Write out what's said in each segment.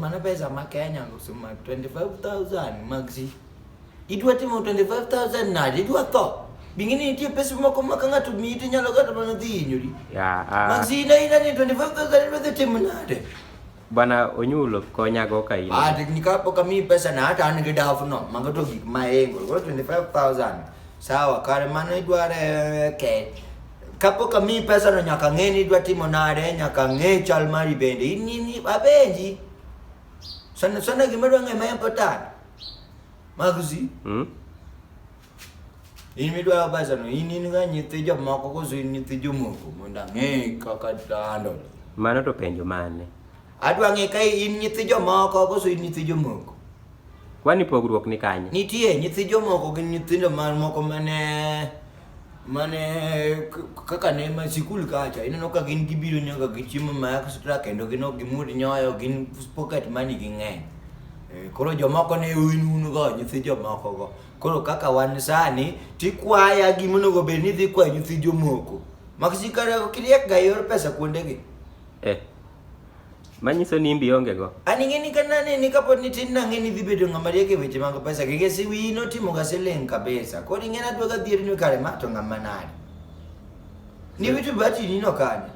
Mana pesa ma Kenya kusema 25000 maxi. Idwa timo 25000 nadi idwa tho. Bingine nitie pesa moko ma ka ng'ato miyi to nyalo kata mana dhi hinyori. Yeah, uh, Maxi ina ina ni 25000 idwa dhi timo nade? Bwana Onyulo konyago ka in. Ah, ni ka poka mi pesa na hata an gi dafu no. Mago to gik ma engo. Go 25000. Sawa, kare mano idware ke. Kapok amiyi pesano nyaka ng'e ni idwa timo nade, nyaka ng'e chal mari bende. In in abenji. Sana sana gima dwa ng'e ma important. Magusi. Mm. In midwa pesano, in in ga nyithi jomoko koso in nyithi jomoko mondo ang'e kaka dando. Mano to penjo mane? Adwa ng'e ka in nyithi jomoko koso in nyithi jomoko. Kwani pogruok ni kanye? Nitie nyithi jomoko gi nyithindo mamoko mane mane kaka ne ma sikul kacha ineno ka gin gibiro nyaka gi chiemo ma extra kendo gin ok gimud nyoyo gin pocket money ging'eny Eh, koro jomoko ne un un go nyithi jomoko go koro kaka wan sani tikwaya gima onego bed ni dhi kwa nyithi jomoko maksikara kiriek ga yor pesa kuondegi eh Manyiso ni imbi onge go. An ing'eni ka naneni kapod nitin nang'eni dhi bedo ng'ama riek e weche mag pesa keke si wiyi notimo ga siling kabisa. Koro ing'eni adwa ga dhier ni kare ma to ng'ama nade. Ni witu bati ni no kane.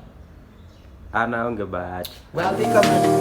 An aonge bahati. Wadhi kamano.